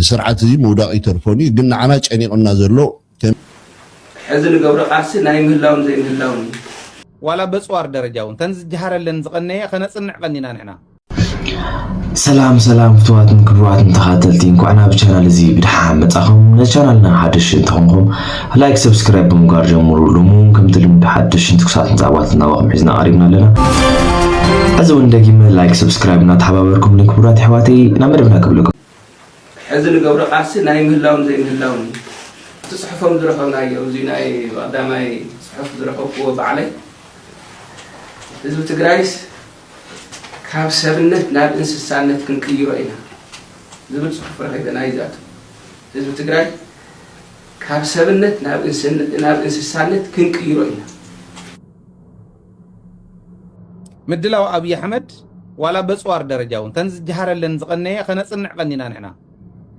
ስርዓት እዚ ምውዳቕ ይተርፎን እዩ ግን ንዓና ጨኒቕና ዘሎ ከም። ሕዚ ንገብሮ ቃልሲ ናይ ምህላውን ዘይምህላውን እዩ። ዋላ በጽዋር ደረጃ ውን ተን ዝጀሃረለን ዝቐነየ ከነጽንዕ ቀኒና ንሕና። ሰላም ሰላም ፍቱዋትን ክቡራትን ተኻተልቲ እንኳዕ ናብ ቻናል እዚ ብድሓን መጻኹም ነዚ ቻናልና ሓደሽቲ እንተኾንኩም ላይክ ሰብስክራይብ ብምግባር ጀምሩ። ሎሚ እውን ከምቲ ልምዲ ሓደሽትን ትኩሳትን ዛዕባታት እናባኹም ሒዝና ቀሪብና ኣለና። ሕዚ እውን ደጊመ ላይክ ሰብስክራይብ እናተሓባበርኩምኒ ክቡራት ኣሕዋተይ ናብ መደብና ክብለኩም። ሕዚ ንገብሮ ቃልሲ ናይ ምህላውን ዘይምህላውን እዩ። እቲ ፅሑፎም ዝረኸብናዮ እዚ ናይ ቀዳማይ ፅሑፍ ዝረኸብኩዎ ባዕለይ ህዝቢ ትግራይስ ካብ ሰብነት ናብ እንስሳነት ክንቅይሮ ኢና ዝብል ፅሑፍ ረኺበ ናይ ዛቱ ህዝቢ ትግራይ ካብ ሰብነት ናብ እንስሳነት ክንቅይሮ ኢና። ምድላው ኣብይ ኣሕመድ ዋላ በፅዋር ደረጃ እውን ተን ዝጀሃረለን ዝቀነየ ከነፅንዕ ቀኒና ንሕና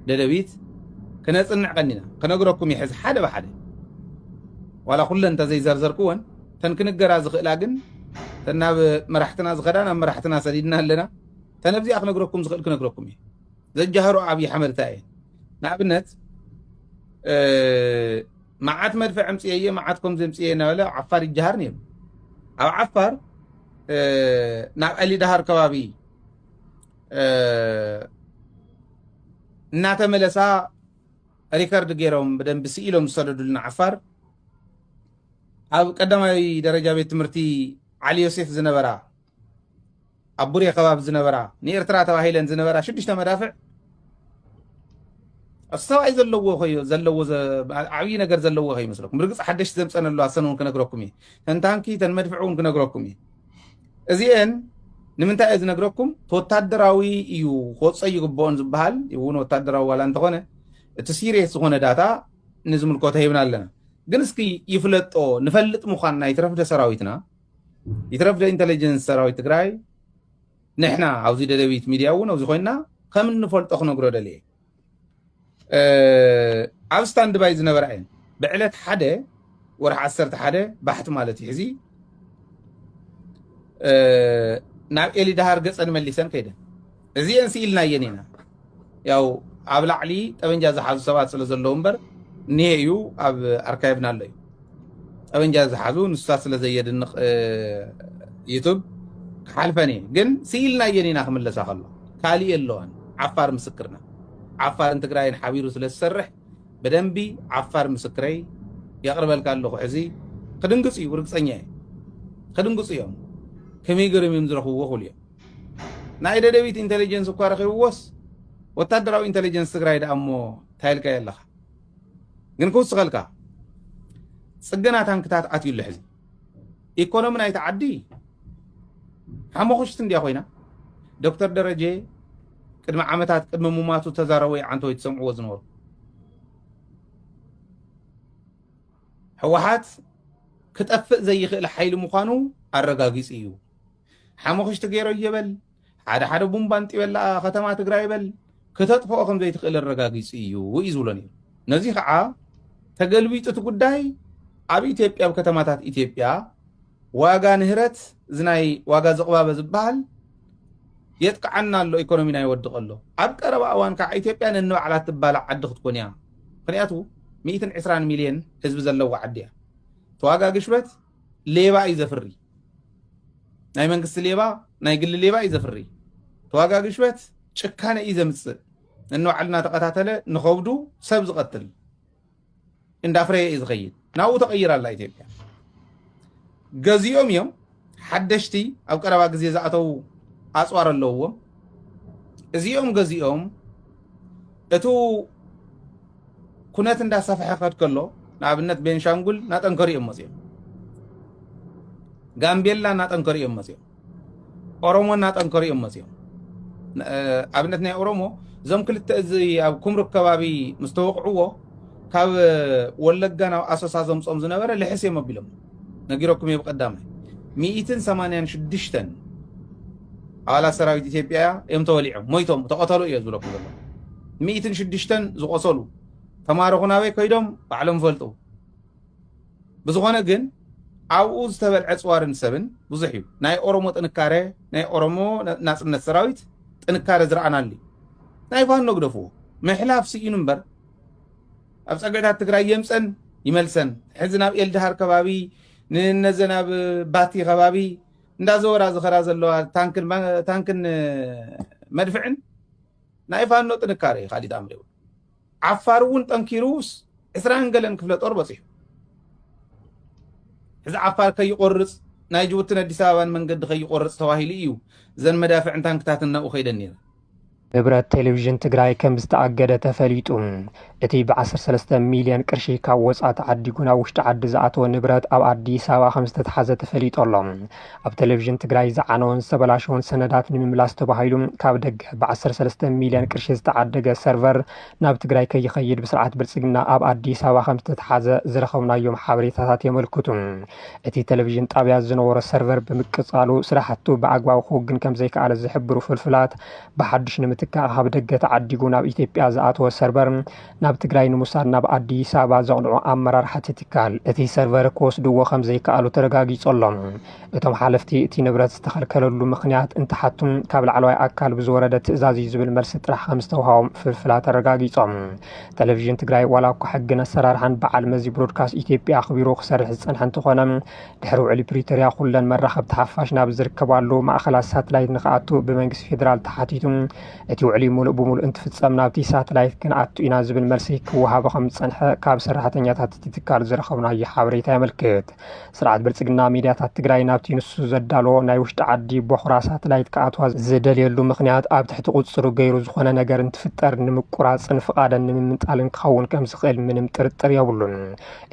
ደደቢት ክነፅንዕ ቀኒና ክነግረኩም ይሕዝ ሓደ ብሓደ ዋላ ኩለን እንተዘይዘርዘርክወን ተን ክንገራ ዝኽእላ ግን ተን ናብ መራሕትና ዝኸዳ ናብ መራሕትና ሰዲድና ኣለና ተነብዚኣ ክነግረኩም ዝኽእል ክነግረኩም እዩ ዘጃህሮ ኣብይ ኣሕመድ እንታይ እየን ንኣብነት መዓት መድፍዕ ኣምፅኤ እየ መዓት ከምዚ ኣምፅኤ እናበለ ኣብ ዓፋር ይጀሃር ነይሩ ኣብ ዓፋር ናብ ኣሊዳሃር ከባቢ እናተመለሳ ሪከርድ ገይሮም ብደንቢ ስኢሎም ዝሰደዱልና ዓፋር ኣብ ቀዳማይ ደረጃ ቤት ትምህርቲ ዓሊ ዮሴፍ ዝነበራ ኣብ ቡሬ ከባቢ ዝነበራ ንኤርትራ ተባሂለን ዝነበራ ሽዱሽተ መዳፍዕ እሱ ሰብኣይ ዘለዎ ኮዮ ዘለዎ ዓብዪ ነገር ዘለዎ ኮ ይመስለኩም ብርግፅ ሓደሽቲ ዘምፀን ኣለዋ ሰን እውን ክነግረኩም እዩ ተንታንኪ ተን መድፍዕ እውን ክነግረኩም እዩ እዚአን ንምንታይ እየ ዝነግረኩም ወታደራዊ እዩ ክወፀ ይግብኦን ዝበሃል እውን ወታደራዊ ዋላ እንተኾነ እቲ ሲሪየስ ዝኾነ ዳታ ንዝምልከቶ ሂብና ኣለና ግን እስኪ ይፍለጦ ንፈልጥ ምዃንና ይትረፍደ ሰራዊትና ይትረፍ ዶ ኢንተለጀንስ ሰራዊት ትግራይ ንሕና ኣብዚ ደደቢት ሚድያ እውን ኣብዚ ኮይና ከም እንፈልጦ ክነግሮ ደልየ ኣብ ስታንድ ባይ ዝነበራ እየን ብዕለት ሓደ ወርሒ ዓሰርተ ሓደ ባሕቲ ማለት እዩ ሕዚ ናብ ኤሊ ዳሃር ገፀን መሊሰን ከይደን እዚኤን ስኢልናየን ኢና ያው ኣብ ላዕሊ ጠበንጃ ዝሓዙ ሰባት ስለ ዘለዉ እምበር እኒሄ እዩ ኣብ ኣርካይቭና ኣሎ እዩ ጠበንጃ ዝሓዙ ንሱታት ስለ ዘየድንቕ ዩቱብ ክሓልፈን እየ ግን ስኢልናየን ኢና ክምለሳ ከሎ ካልእ የለዋን ዓፋር ምስክርና ዓፋርን ትግራይን ሓቢሩ ስለ ዝሰርሕ ብደንቢ ዓፋር ምስክረይ የቕርበልካ ኣለኹ ሕዚ ክድንግፁ እዩ ርግፀኛ እየ ክድንግፁ እዮም ከመይ ገርም እዮም ዝረኽብዎ ክብሉ እዮም ናይ ደደቢት ኢንተሊጀንስ እኳ ረኺብዎስ ወታደራዊ ኢንተሊጀንስ ትግራይ ደኣ እሞ እንታይ ኢልካዮ ኣለኻ ግን ክውስኸልካ ፅገና ታንክታት ኣትዩ ኣሎ ሕዚ ኢኮኖሚ ናይቲ ዓዲ ሓሞኽሽቲ እንድያ ኮይና ዶክተር ደረጀ ቅድሚ ዓመታት ቅድሚ ሙማቱ ተዛረቦ ይዓንተ ወይ ትሰምዕዎ ዝነበሩ ህወሓት ክጠፍእ ዘይኽእል ሓይሊ ምዃኑ ኣረጋጊፁ እዩ ሓሙኽሽቲ ገይረዮ በል ሓደ ሓደ ቡምባ ንጢበላ ከተማ ትግራይ በል ክተጥፍኦ ከም ዘይትኽእል ኣረጋጊጹ እዩ እዩ ዝብሎ ነይሩ ነዚ ከዓ ተገልቢጡ እቲ ጉዳይ ኣብ ኢትዮጵያ ኣብ ከተማታት ኢትዮጵያ ዋጋ ንህረት እዚ ናይ ዋጋ ዝቕባበ ዝበሃል የጥቅዓና ኣሎ ኢኮኖሚና ይወድቕ ኣሎ ኣብ ቀረባ እዋን ከዓ ኢትዮጵያ ነንባዕላ ትባላዕ ዓዲ ክትኮን እያ ምክንያቱ 120 ሚልዮን ህዝቢ ዘለዋ ዓዲ እያ ተዋጋ ግሽበት ሌባ እዩ ዘፍሪ ናይ መንግስቲ ሌባ ናይ ግሊ ሌባ እዩ ዘፍሪ ተዋጋ ግሽበት ጭካነ እዩ ዘምፅእ ነንባዕልና ተቐታተለ ንኸብዱ ሰብ ዝቐትል እንዳፍረየ እዩ ዝኸይድ ናብኡ ተቐይራ ኣላ ኢትዮጵያ ገዚኦም እዮም ሓደሽቲ ኣብ ቀረባ ግዜ ዝኣተዉ ኣፅዋር ኣለውዎም እዚኦም ገዚኦም እቱ ኩነት እንዳሰፈሐ ከድ ከሎ ንኣብነት ቤንሻንጉል እናጠንከሩ እዮም መፅኦም ጋምቤላ እናጠንከሩ እዮም መፅኦም ኦሮሞ እናጠንከሩ እዮም መፅኦም ኣብነት ናይ ኦሮሞ እዞም ክልተ እዚ ኣብ ኩምሩክ ከባቢ ምስ ተወቕዕዎ ካብ ወለጋ ናብ ኣሶሳ ዘምፆም ዝነበረ ልሕስ እዮም ኣቢሎም ነጊረኩም እየ ብቀዳማይ ሚኢትን ሰማንያን ሽዱሽተን ኣባላት ሰራዊት ኢትዮጵያ እዮም ተወሊዖም ሞይቶም ተቐተሉ እየ ዝብለኩም ዘሎ ሚኢትን ሽዱሽተን ዝቆሰሉ ተማረኹ ናበይ ከይዶም ባዕሎም ፈልጡ ብዝኾነ ግን ኣብኡ ዝተበልዐ ፅዋርን ሰብን ብዙሕ እዩ ናይ ኦሮሞ ጥንካረ ናይ ኦሮሞ ናፅነት ሰራዊት ጥንካረ ዝረኣናሉ እዩ ናይ ፋኖ ግደፍዎ ምሕላፍ ስኢኑ እምበር ኣብ ፀገታት ትግራይ የምፀን ይመልሰን ሕዚ ናብ ኤልድሃር ከባቢ ንነዘን ኣብ ባቲ ከባቢ እንዳዘወራ ዝኸራ ዘለዋ ታንክን መድፍዕን ናይ ፋኖ ጥንካረ እዩ ካሊእ ጣምሪ ይብሉ ዓፋር እውን ጠንኪሩስ ዕስራን ገለን ክፍለ ጦር በፂሑ እዚ ዓፋር ከይቆርፅ ናይ ጅቡትን ኣዲስ ኣበባን መንገዲ ከይቆርፅ ተባሂሉ እዩ እዘን መዳፍዕን ታንክታትን ናብኡ ከይደን ነይረን ንብረት ቴሌቪዥን ትግራይ ከም ዝተኣገደ ተፈሊጡ። እቲ ብ13 ሚልዮን ቅርሺ ካብ ወፃ ተዓዲጉ ናብ ውሽጢ ዓዲ ዝኣተወ ንብረት ኣብ ኣዲስ ኣበባ ከም ዝተተሓዘ ተፈሊጦ ኣሎ። ኣብ ቴሌቪዥን ትግራይ ዝዓነወን ዝተበላሸወን ሰነዳት ንምምላስ ተባሂሉ ካብ ደገ ብ13 ሚልዮን ቅርሺ ዝተዓደገ ሰርቨር ናብ ትግራይ ከይኸይድ ብስርዓት ብልፅግና ኣብ ኣዲስ ኣበባ ከም ዝተተሓዘ ዝረኸብናዮም ሓበሬታታት የመልክቱ። እቲ ቴሌቪዥን ጣብያ ዝነበሮ ሰርቨር ብምቅፃሉ ስራሕቱ ብኣግባቡ ክውግን ከም ዘይከኣለ ዝሕብሩ ፍልፍላት፣ ብሓዱሽ ንምትካእ ካብ ደገ ተዓዲጉ ናብ ኢትዮጵያ ዝኣተወ ሰርቨር ናብ ትግራይ ንምውሳድ ናብ ኣዲስ ኣበባ ዘቕንዑ ኣመራርሓ እቲ ትካል፣ እቲ ሰርቨር ክወስድዎ ከም ዘይከኣሉ ተረጋጊፁ ኣሎ። እቶም ሓለፍቲ እቲ ንብረት ዝተኸልከለሉ ምኽንያት እንትሓቱም ካብ ላዕለዋይ ኣካል ብዝወረደ ትእዛዝ እዩ ዝብል መልሲ ጥራሕ ከምዝተውሃቦም ፍልፍላት ኣረጋጊፆም። ቴሌቪዥን ትግራይ ዋላ እኳ ሕግን ኣሰራርሓን በዓል መዚ ብሮድካስት ኢትዮጵያ ኣኽቢሩ ክሰርሕ ዝፀንሐ እንተኾነ ድሕሪ ውዕሊ ፕሪቶሪያ ኩለን መራኸብቲ ሓፋሽ ናብ ዝርከባሉ ማእኸላት ሳትላይት ንክኣቱ ብመንግስቲ ፌዴራል ተሓቲቱ እቲ ውዕሊ ሙሉእ ብሙሉእ እንትፍፀም ናብቲ ሳትላይት ክንኣቱ ኢና ዝብል መልሲ ክወሃቦ ከምዝፀንሐ ካብ ሰራሕተኛታት እቲ ትካል ዝረኸብናዮ ሓበሬታ የመልክት። ስርዓት ብልፅግና ሚድያታት ትግራይ ናብቲ ንሱ ዘዳለዎ ናይ ውሽጢ ዓዲ ቦኽራ ሳትላይት ክኣትዋ ዝደልየሉ ምኽንያት ኣብ ትሕቲ ቁፅፅሩ ገይሩ ዝኾነ ነገር እንትፍጠር ንምቁራፅን ፍቓደን ንምምንጣልን ክኸውን ከምዝኽእል ምንም ጥርጥር የብሉን።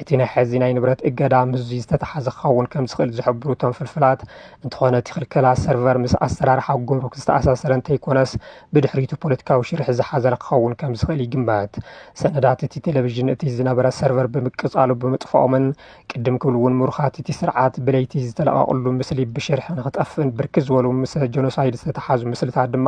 እቲ ናይ ሕዚ ናይ ንብረት እገዳ ምስዙይ ዝተተሓዘ ክኸውን ከምዝኽእል ዝሕብሩ እቶም ፍልፍላት እንተኾነ እቲ ክልከላ ሰርቨር ምስ ኣሰራርሓ ጉምሩክ ዝተኣሳሰረ እንተይኮነስ ብድሕሪቱ ፖለቲካዊ ሽርሒ ዝሓዘለ ክኸውን ከምዝኽእል ይግመት። ሰነዳት እቲ ቴሌቪዥን እቲ ዝነበረ ሰርቨር ብምቅፃሉ ብምጥፋኦምን ቅድም ክብል እውን ምሩኻት እቲ ስርዓት ብለይቲ ዝተለቐቕሉ ምስሊ ብሽርሒ ንክጠፍእን ብርክት ዝበሉ ምስ ጀኖሳይድ ዝተተሓዙ ምስልታት ድማ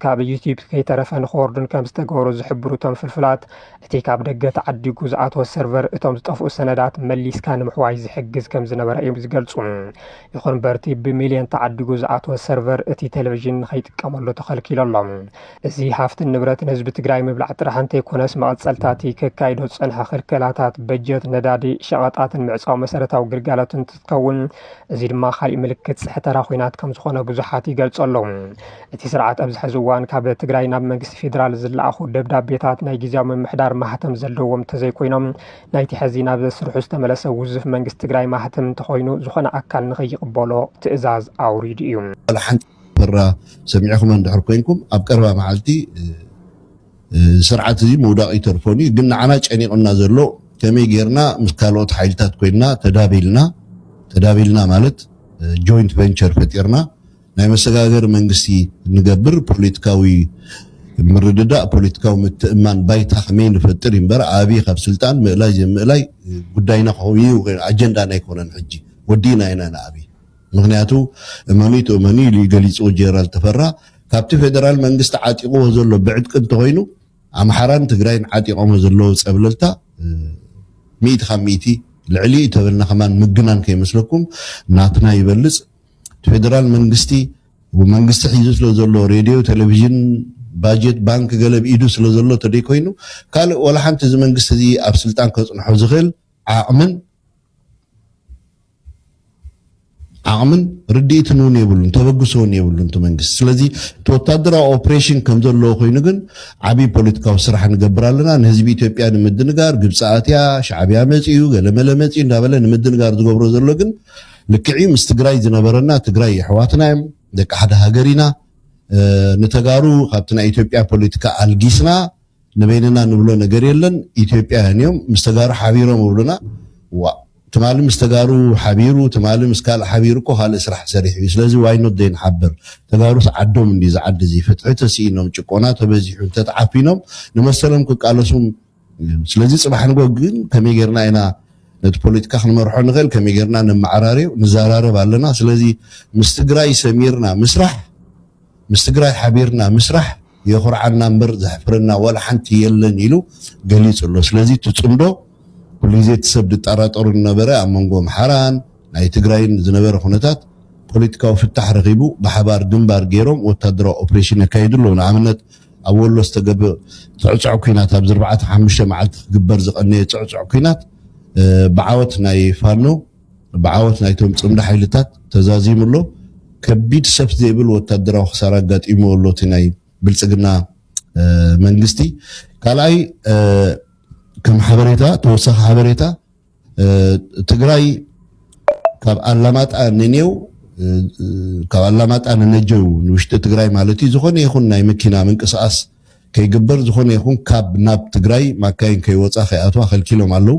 ካብ ዩቲዩብ ከይተረፈ ንክወርዱን ከም ዝተገበሩ ዝሕብሩ እቶም ፍልፍላት እቲ ካብ ደገ ተዓዲጉ ዝኣተወ ሰርቨር እቶም ዝጠፍኡ ሰነዳት መሊስካ ንምሕዋይ ዝሕግዝ ከም ዝነበረ እዮም ዝገልፁ። ይኹን እምበር እቲ ብሚልዮን ተዓዲጉ ዝኣተወ ሰርቨር እቲ ቴሌቪዥን ንከይጥቀመሉ ተኸልኪሉ ኣሎ። እዚ ሃፍትን ንብረትን ህዝቢ ትግራይ ምብላዕ ጥራሕ እንተይኮነስ መቐፀልታ እቲ ከካይዶ ዝፀንሐ ክልከላታት በጀት፣ ነዳዲ፣ ሸቐጣትን ምዕፃው መሰረታዊ ግልጋሎት እንትትከውን እዚ ድማ ካሊእ ምልክት ፅሕተራ ኹናት ከምዝኾነ ብዙሓት ይገልፁ ኣለው። እቲ ስርዓት ኣብዚ ሕዚ እዋን ካብ ትግራይ ናብ መንግስቲ ፌዴራል ዝለኣኹ ደብዳቤታት ናይ ጊዜያዊ ምምሕዳር ማህተም ዘለዎም እንተዘይኮይኖም ናይቲ ሕዚ ናብ ስርሑ ዝተመለሰ ውዙፍ መንግስቲ ትግራይ ማህተም እንተኾይኑ ዝኾነ ኣካል ንኸይቕበሎ ትእዛዝ ኣውሪዱ እዩ። ዋላ ሓንቲ ተራ ሰሚዕኹመን እንድሕር ኮይንኩም ኣብ ቀረባ መዓልቲ እዚ ስርዓት እዚ ምውዳቕ ይተርፎን እዩ ግን ንዓና ጨኒቑና ዘሎ ከመይ ጌርና ምስ ካልኦት ሓይልታት ኮይንና ተዳቢልና ተዳቢልና ማለት ጆይንት ቨንቸር ፈጢርና ናይ መሰጋገሪ መንግስቲ ንገብር ፖለቲካዊ ምርድዳእ ፖለቲካዊ ምትእማን ባይታ ከመይ ንፈጥር እምበር ኣብይ ካብ ስልጣን ምእላይ ዘይምእላይ ጉዳይና ኮይኑ ኣጀንዳና ኣይኮነን ሕጂ ወዲእና ኢና ንኣብይ ምኽንያቱ እመኑይ ትእመኑይ ኢሉዩ ገሊፁ ጀነራል ተፈራ ካብቲ ፌደራል መንግስቲ ዓጢቑዎ ዘሎ ብዕጥቂ እንተኾይኑ ኣምሓራን ትግራይን ዓጢቖሞ ዘለዉ ፀብለልታ ሚእቲ ካብ ሚእቲ ልዕሊኡ ተበልና ከማን ምግናን ከይመስለኩም ናትና ይበልፅ እቲ ፌደራል መንግስቲ መንግስቲ ሒዙ ስለ ዘሎ ሬድዮ ቴሌቪዥን ባጀት ባንክ ገለ ብ ኢዱ ስለ ዘሎ ተደይኮይኑ ካልእ ዋላ ሓንቲ እዚ መንግስቲ እዚ ኣብ ስልጣን ከፅንሖ ዝኽእል ዓቕምን ዓቕምን ርድኢትን እውን የብሉን ተበግሶ እውን የብሉን እቲ መንግስቲ ስለዚ እቲ ወታደራዊ ኦፕሬሽን ከም ዘለዎ ኮይኑ ግን ዓብዪ ፖለቲካዊ ስራሕ ንገብር ኣለና ንህዝቢ ኢትዮጵያ ንምድንጋር ግብፂ ኣትያ ሻዕብያ መፅኡ ገለመለ መፅኡ እንዳበለ ንምድንጋር ዝገብሮ ዘሎ ግን ልክዕ እዩ ምስ ትግራይ ዝነበረና ትግራይ የሕዋትና እዮም ደቂ ሓደ ሃገር ኢና ንተጋሩ ካብቲ ናይ ኢትዮጵያ ፖለቲካ ኣልጊስና ንበይንና ንብሎ ነገር የለን ኢትዮጵያውያን እዮም ምስ ተጋሩ ሓቢሮም እብሉና ዋእ ትማሊ ምስ ተጋሩ ሓቢሩ ትማሊ ምስ ካልእ ሓቢሩ እኮ ካልእ ስራሕ ሰሪሑ እዩ ስለዚ ዋይ ኖት ዘይንሓብር ተጋሩስ ዓዶም እንዲ እዚ ዓዲ እዚ ፍትሒ ተስኢኖም ጭቆና ተበዚሑ እንተተዓፊኖም ንመሰሎም ክቃለሱ ስለዚ ፅባሕ ንጎ ግን ከመይ ጌርና ኢና ነቲ ፖለቲካ ክንመርሖ ንኽእል ከመይ ጌርና ነመዓራርዮ ንዘራረብ ኣለና ስለዚ ምስ ትግራይ ሰሚርና ምስራሕ ምስ ትግራይ ሓቢርና ምስራሕ የኹርዓና እምበር ዘሕፍረና ዋላ ሓንቲ የለን ኢሉ ገሊጹ ኣሎ። ስለዚ እቲ ጽምዶ ኩሉ ግዜ እቲ ሰብ ዝጠራጠሮ ዝነበረ ኣብ መንጎ ኣምሓራን ናይ ትግራይን ዝነበረ ኩነታት ፖለቲካዊ ፍታሕ ረኺቡ ብሓባር ግንባር ገይሮም ወታደራዊ ኦፕሬሽን የካይዱ ኣለዉ። ንኣብነት ኣብ ወሎ ዝተገበ ጽዕጹዕ ኲናት ኣብዚ ኣርባዕተ ሓሙሽተ መዓልቲ ክግበር ዝቐነየ ጽዕጹዕ ኲናት ብዓወት ናይ ፋኖ ብዓወት ናይቶም ጽምዶ ሓይልታት ተዛዚሙ ኣሎ። ከቢድ ሰፍ ዘይብል ወታደራዊ ክሳራ ኣጋጢምዎ ኣሎ እቲ ናይ ብልጽግና መንግስቲ። ካልኣይ ከም ሓበሬታ ተወሳኺ ሓበሬታ ትግራይ ካብ ኣላማጣ ንኔው ካብ ኣላማጣ ንነጀው ንውሽጢ ትግራይ ማለት እዩ ዝኾነ ይኹን ናይ መኪና ምንቅስቓስ ከይግበር ዝኾነ ይኹን ካብ ናብ ትግራይ ማካይን ከይወፃ ከይኣትዋ ከልኪሎም ኣለው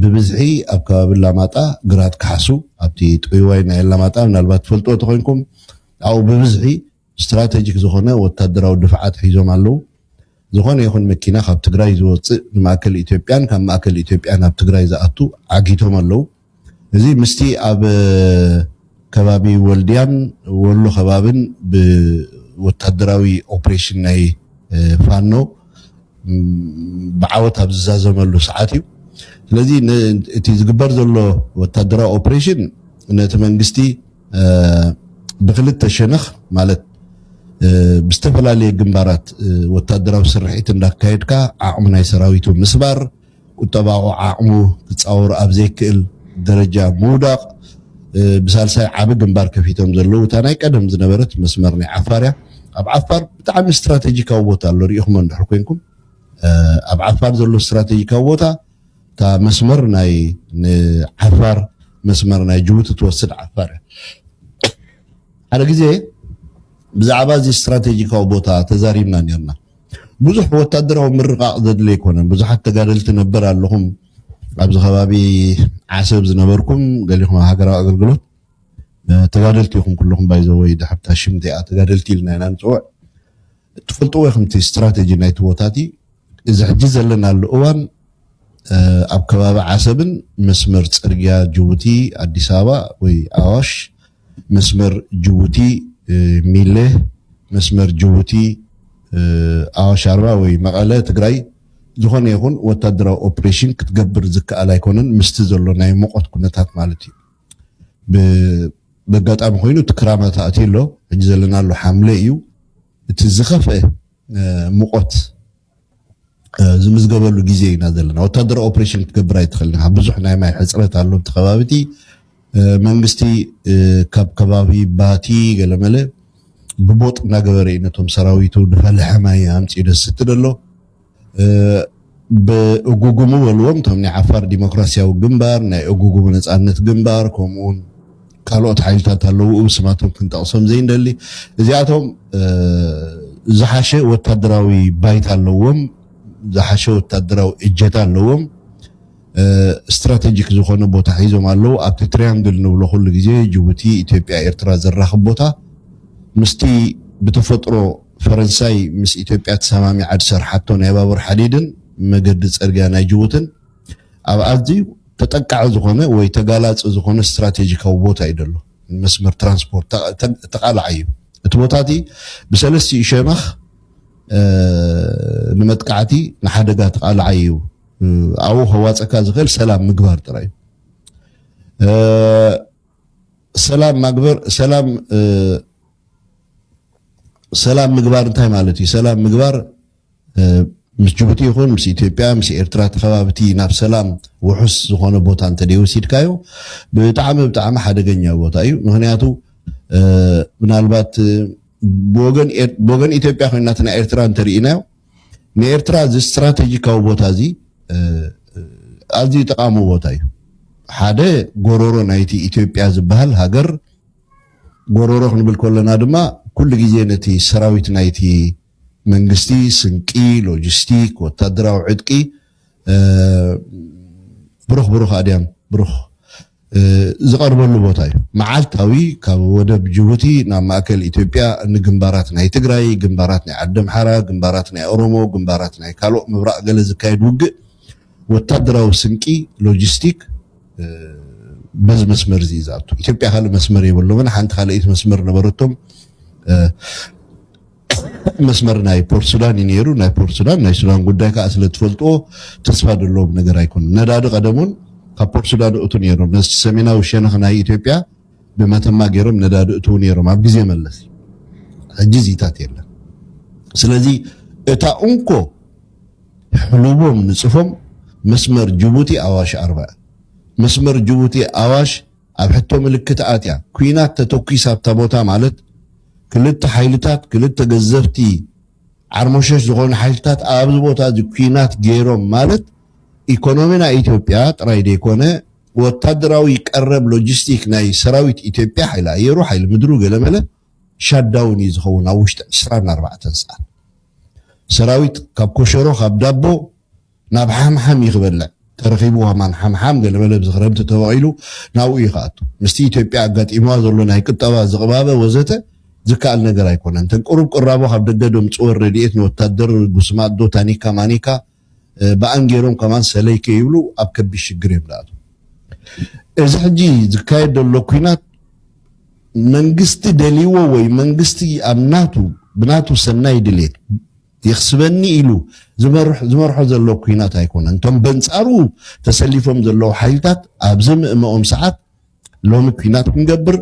ብብዝሒ ኣብ ከባቢ ኣላማጣ ግራት ካሕሱ ኣብቲ ጥውይዋይ ናይ ኣላማጣ ምናልባት ትፈልጥዎ ተኾይንኩም ኣብኡ ብብዝሒ ስትራተጂክ ዝኾነ ወታደራዊ ድፍዓት ሒዞም ኣለዉ። ዝኾነ ይኹን መኪና ካብ ትግራይ ዝወፅእ ንማእከል ኢትዮጵያን ካብ ማእከል ኢትዮጵያ ናብ ትግራይ ዝኣቱ ዓጊቶም ኣለዉ። እዚ ምስቲ ኣብ ከባቢ ወልድያን ወሎ ከባብን ብወታደራዊ ኦፕሬሽን ናይ ፋኖ ብዓወት ኣብ ዝዛዘመሉ ሰዓት እዩ። ስለዚ እቲ ዝግበር ዘሎ ወታደራዊ ኦፕሬሽን ነቲ መንግስቲ ብክልተ ሸነኽ ማለት ብዝተፈላለየ ግንባራት ወታደራዊ ስርሒት እንዳካየድካ ዓቕሚ ናይ ሰራዊቱ ምስባር፣ ቁጠባዊ ዓቕሙ ክጻወሮ ኣብ ዘይክእል ደረጃ ምውዳቕ፣ ብሳልሳይ ዓቢ ግንባር ከፊቶም ዘለዉ እታ ናይ ቀደም ዝነበረት መስመር ናይ ዓፋር እያ። ኣብ ዓፋር ብጣዕሚ ስትራተጂካዊ ቦታ ኣሎ ርኢኹሞ እንድሕር ኮይንኩም ኣብ ዓፋር ዘሎ ስትራተጂካዊ ቦታ እታ መስመር ናይ ንዓፋር መስመር ናይ ጅቡቲ ትወስድ ዓፋር እያ። ሓደ ግዜ ብዛዕባ እዚ ስትራተጂካዊ ቦታ ተዛሪብና ኔርና። ብዙሕ ወታደራዊ ምርቃቕ ዘድሊ ኣይኮነን። ብዙሓት ተጋደልቲ ነበር ኣለኹም ኣብዚ ከባቢ ዓሰብ ዝነበርኩም ገሊኹም ኣብ ሃገራዊ ኣገልግሎት ተጋደልቲ ኢኹም ኩልኹም ባይዘወይ ድሕርታ ሽም እቲኣ ተጋደልቲ ኢልና ኢና ንፅውዕ እትፈልጥዎ ኢኹም እቲ ስትራቴጂ ናይቲ ቦታ እቲ እዚ ሕጂ ዘለናሉ እዋን ኣብ ከባቢ ዓሰብን መስመር ፅርግያ ጅቡቲ ኣዲስ ኣበባ ወይ ኣዋሽ መስመር ጅቡቲ ሚሌ፣ መስመር ጅቡቲ ኣዋሽ ኣርባ ወይ መቐለ ትግራይ ዝኾነ ይኹን ወታደራዊ ኦፕሬሽን ክትገብር ዝከኣል ኣይኮነን ምስቲ ዘሎ ናይ ሙቐት ኩነታት ማለት እዩ። በጋጣሚ ኮይኑ እቲ ክራማት ኣትዩ ኣሎ ሕጂ ዘለናሉ ሓምለ እዩ እቲ ዝኸፍኤ ሙቐት ዝምዝገበሉ ግዜ ኢና ዘለና ወታደራዊ ኦፕሬሽን ክትገብር ኣይትኽእል ኢኻ ብዙሕ ናይ ማይ ሕፅረት ኣሎ እቲ ከባቢ እቲ መንግስቲ ካብ ከባቢ ባቲ ገለመለ ብቦጥ እናገበረ እዩ ነቶም ሰራዊቱ ድፈልሐ ማይ ኣምፅኡ ደስቲ ደሎ ብእጉጉሙ በልዎም እቶም ናይ ዓፋር ዲሞክራሲያዊ ግንባር ናይ እጉጉሙ ነፃነት ግንባር ከምኡውን ካልኦት ሓይልታት ኣለዉ ብስማቶም ክንጠቕሶም ዘይንደሊ እዚኣቶም ዝሓሸ ወታደራዊ ባይታ ኣለዎም ዝሓሸ ወታደራዊ እጀታ ኣለዎም ስትራቴጂክ ዝኾነ ቦታ ሒዞም ኣለዉ ኣብቲ ትሪያንግል ንብሎ ኩሉ ግዜ ጅቡቲ ኢትዮጵያ ኤርትራ ዘራኽብ ቦታ ምስቲ ብተፈጥሮ ፈረንሳይ ምስ ኢትዮጵያ ተሰማሚዓ ዝሰርሓቶ ናይ ባቡር ሓዲድን መገዲ ፅርግያ ናይ ጅቡትን ኣብ ኣዝዩ ተጠቃዒ ዝኾነ ወይ ተጋላጺ ዝኾነ ስትራቴጂካዊ ቦታ እዩ ዘሎ። ንመስመር ትራንስፖርት ተቓላዓይ እዩ። እቲ ቦታ'ቲ ብሰለስቲኡ ሸነኽ ንመጥቃዕቲ ንሓደጋ ተቓላዓይ እዩ። ኣብኡ ከዋጸካ ዝኽእል ሰላም ምግባር ጥራይ እዩ። ሰላም ማግበር ሰላም ሰላም ምግባር እንታይ ማለት እዩ? ሰላም ምግባር ምስ ጅቡቲ ይኹን ምስ ኢትዮጵያ ምስ ኤርትራ እቲ ከባቢ እቲ ናብ ሰላም ውሑስ ዝኾነ ቦታ እንተደይ ወሲድካዮ ብጣዕሚ ብጣዕሚ ሓደገኛ ቦታ እዩ ምክንያቱ ምናልባት ብወገን ኢትዮጵያ ኮይና እቲ ናይ ኤርትራ እንተርኢናዮ ንኤርትራ እዚ ስትራቴጂካዊ ቦታ እዚ ኣዝዩ ጠቃሚ ቦታ እዩ ሓደ ጎሮሮ ናይቲ ኢትዮጵያ ዝበሃል ሃገር ጎሮሮ ክንብል ከለና ድማ ኩሉ ግዜ ነቲ ሰራዊት ናይቲ መንግስቲ ስንቂ፣ ሎጂስቲክ፣ ወታደራዊ ዕጥቂ ብሩኽ ብሩኽ ኣድያም ብሩኽ ዝቐርበሉ ቦታ እዩ። መዓልታዊ ካብ ወደብ ጅቡቲ ናብ ማእከል ኢትዮጵያ ንግንባራት ናይ ትግራይ፣ ግንባራት ናይ ዓደምሓራ፣ ግንባራት ናይ ኦሮሞ፣ ግንባራት ናይ ካልኦት ምብራቕ ገለ ዝካየድ ውግእ ወታደራዊ ስንቂ፣ ሎጂስቲክ በዚ መስመር እዚ እዩ ዝኣቱ። ኢትዮጵያ ካልእ መስመር የብሎምን። ሓንቲ ካልኣይቲ መስመር ነበረቶም። መስመር ናይ ፖርት ሱዳን እዩ ነይሩ ናይ ፖርት ሱዳን ናይ ሱዳን ጉዳይ ከዓ ስለ ትፈልጥዎ ተስፋ ዘለዎም ነገር ኣይኮነን ነዳዲ ቀደም እውን ካብ ፖርት ሱዳን እእቱ ነይሮም ነዚ ሰሜናዊ ሸነኽ ናይ ኢትዮጵያ ብመተማ ገይሮም ነዳዲ እእትዉ ነይሮም ኣብ ግዜ መለስ ሕጂ እዚታት የለን ስለዚ እታ እንኮ ሕሉቦም ንፅፎም መስመር ጅቡቲ ኣዋሽ ኣርባ መስመር ጅቡቲ ኣዋሽ ኣብ ሕቶ ምልክት ኣትያ ኩናት ተተኲስ ኣብታ ቦታ ማለት ክልተ ሓይልታት ክልተ ገዘፍቲ ዓርሞሸሽ ዝኾኑ ሓይልታት ኣብዚ ቦታ እዚ ኩናት ገይሮም ማለት ኢኮኖሚ ናይ ኢትዮጵያ ጥራይ ዘይኮነ ወታደራዊ ቀረብ ሎጂስቲክ ናይ ሰራዊት ኢትዮጵያ ሓይሊ ኣየሩ ሓይሊ ምድሩ ገለመለ ሻዳውን እዩ ዝኸውን ኣብ ውሽጢ ዕስራን ኣርባዕተን ሰዓት ሰራዊት ካብ ኮሸሮ ካብ ዳቦ ናብ ሓምሓም እዩ ክበልዕ ተረኺቡ ዋማን ሓምሓም ገለመለ ኣብዚ ክረምቲ ተበቒሉ ናብኡ እዩ ክኣቱ ምስቲ ኢትዮጵያ ኣጋጢምዋ ዘሎ ናይ ቁጠባ ዝቕባበ ወዘተ ዝከኣል ነገር ኣይኮነን እተን ቁሩብ ቅራቦ ካብ ደገ ደምጽወን ረዲኤት ንወታደር ጉስማዶ ታኒካ ማኒካ ብኣን ጌሮም ከማን ሰለይ ከይብሉ ኣብ ከቢድ ሽግር እዮም ዝኣትዉ እዚ ሕጂ ዝካየድ ዘሎ ኩናት መንግስቲ ደልይዎ ወይ መንግስቲ ኣብ ናቱ ብናቱ ሰናይ ድሌት የኽስበኒ ኢሉ ዝመርሖ ዘሎ ኲናት ኣይኮነን። እቶም በንጻሩ ተሰሊፎም ዘለዉ ሓይልታት ኣብ ዘምእመኦም ሰዓት ሎሚ ኲናት ክንገብር፣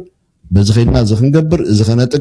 በዚ ከድና እዚ ክንገብር፣ እዚ ከነጥቅዕ፣